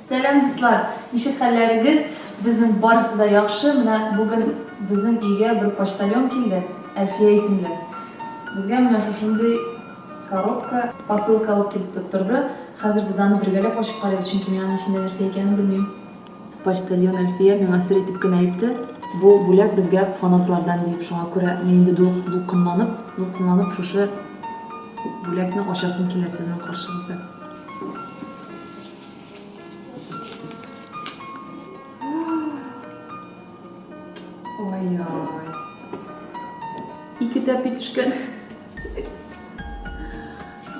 Сәлам дуслар! Ничек хәлләрегез? Безнең барысы да яхшы. Менә бүген безнең өйгә бер почтальон килде, Әлфия исемле. Безгә менә шушындый коробка, посылка алып килеп тоттырды. Хәзер без аны бергәләп ачып карыйбыз, чөнки мин аның эчендә нәрсә икәнен белмим. Почтальон Әлфия миңа сер итеп кенә әйтте, бу бүләк безгә фанатлардан диеп. Шуңа күрә мин инде дулкынланып, дулкынланып шушы бүләкне ачасым килә сезнең каршыгызда. Ой-ой. Ике тәпи төшкән.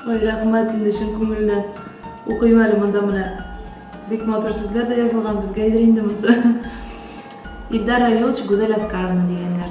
Ой, рәхмәт инде чын күңелдән. Укыйм әле монда менә. Бик матур сүзләр дә язылган, безгә инде монысы. Илдар Равилович Гүзәл Аскаровна дигәннәр.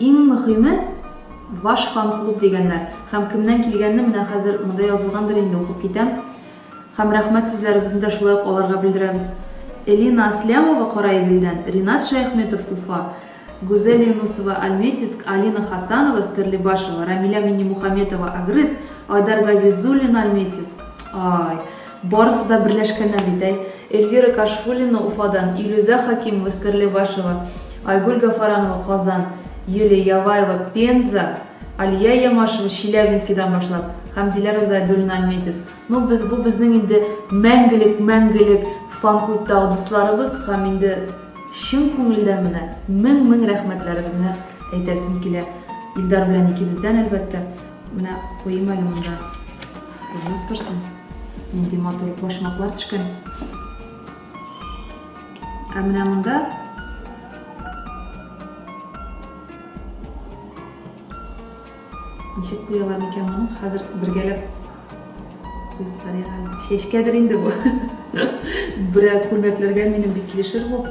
Иң мөхиме, ваш фан-клуб дигәннәр. Хәм кемнән килгәнне менә хәзер монда язылгандыр инде, укып китәм. Хәм рәхмәт сүзләребезне дә шулай ук аларга белдерәбез. Элина Аслямова, Караиделдән, Ринат Шәяхметов, Уфа, Гүзәл Юнусова, Альметьевск, Алина Хасанова, Стәрлебашево, Рамилә Миннемухаметова, Агрыз, Айдар Газизуллина, Альметьевск. Ай. Барысы да берләшкәннәр бит, әй! Эльвира Кашфуллина, Уфадан, Илүзә Хәкимова, Стәрлебашева, Айгөл Гафаранова, Казан, Юлия Яваева, Пенза, Алия Ямашева, Челябинскидан башлап, һәм Диләрә Зайдуллина, Альметьевск. Ну, без, бу безнең инде мәңгелек, мәңгелек фан-клубтагы дусларыбыз, һәм инде чын күңелдән менә мең-мең рәхмәтләребезне әйтәсем килә Илдар белән икебездән, әлбәттә. Менә куйыйм әле монда. Күренеп торсын. Нинди матур башмаклар төшкән. Ә менә монда ничек куялар микән моны? Хәзер бергәләп куеп карыйк әле. Чәчкәдер инде бу. Берәр күлмәкләргә минем бик килешер бу.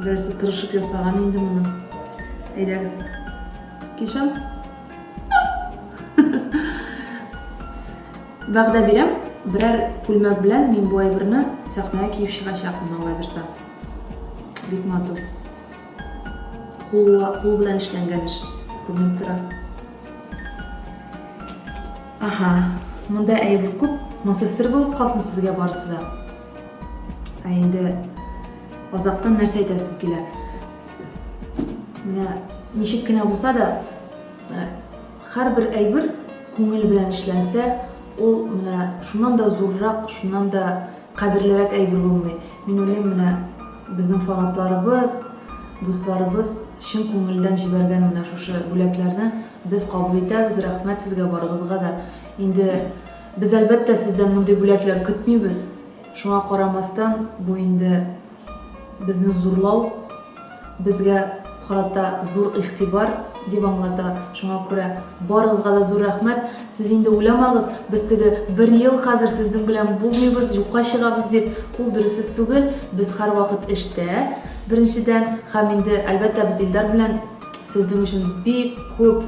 Берәрсе тырышып ясаган инде моны. Әйдәгез. Кишам. Вәгъдә бирәм, берәр күлмәк белән мин бу әйберне сәхнәгә киеп чыгачакмын, Алла бирсә. Бик матур. Кул, кул белән эшләнгән эш күренеп тора. Аха, монда әйбер күп, монсы сер булып калсын сезгә барысы да. Ә инде азактан нәрсә әйтәсем килә? Менә ничек кенә булса да, э, һәрбер әйбер күңел белән эшләнсә, ул менә шуннан да зуррак, шуннан да кадерлерәк әйбер булмый. Мин уйлыйм, менә безнең фанатларыбыз, дусларыбыз чын күңелдән җибәргән менә шушы бүләкләрне без кабул итәбез. Рәхмәт сезгә барыгызга да. Инде без әлбәттә сездән мондый бүләкләр көтмибез. Шуңа карамастан, бу инде Безне зурлау, безгә карата зур игътибар, дип аңлата. Шуңа күрә барыгызга да зур рәхмәт. Сез инде уйламагыз, без теге бер ел хәзер сезнең белән булмыйбыз, юкка чыгабыз дип, ул дөрес сүз түгел. Без һәрвакыт эштә, беренчедән, һәм инде, әлбәттә, без Илдар белән сезнең өчен бик күп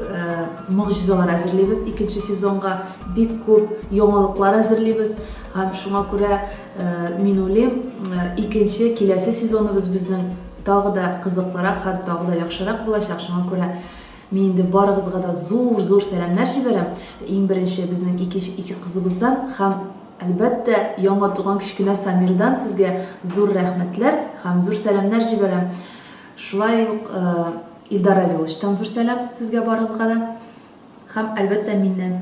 могҗизалар әзерлибез икенче сезонга, бик күп яңалыклар әзерлибез. Һәм шуңа күрә. Мин уйлыйм, икенче киләсе сезоныбыз безнең тагы да кызыклырак һәм тагы да яхшырак булачак. Шуңа күрә мин инде барыгызга да зур-зур сәламнәр җибәрәм. Иң беренче безнең ике ике кызыбыздан һәм, әлбәттә, яңа туган кечкенә Самирдан сезгә зур рәхмәтләр һәм зур сәламнәр җибәрәм. Шулай ук Илдар Равиловичтан зур сәлам сезгә барыгызга да һәм, әлбәттә, миннән.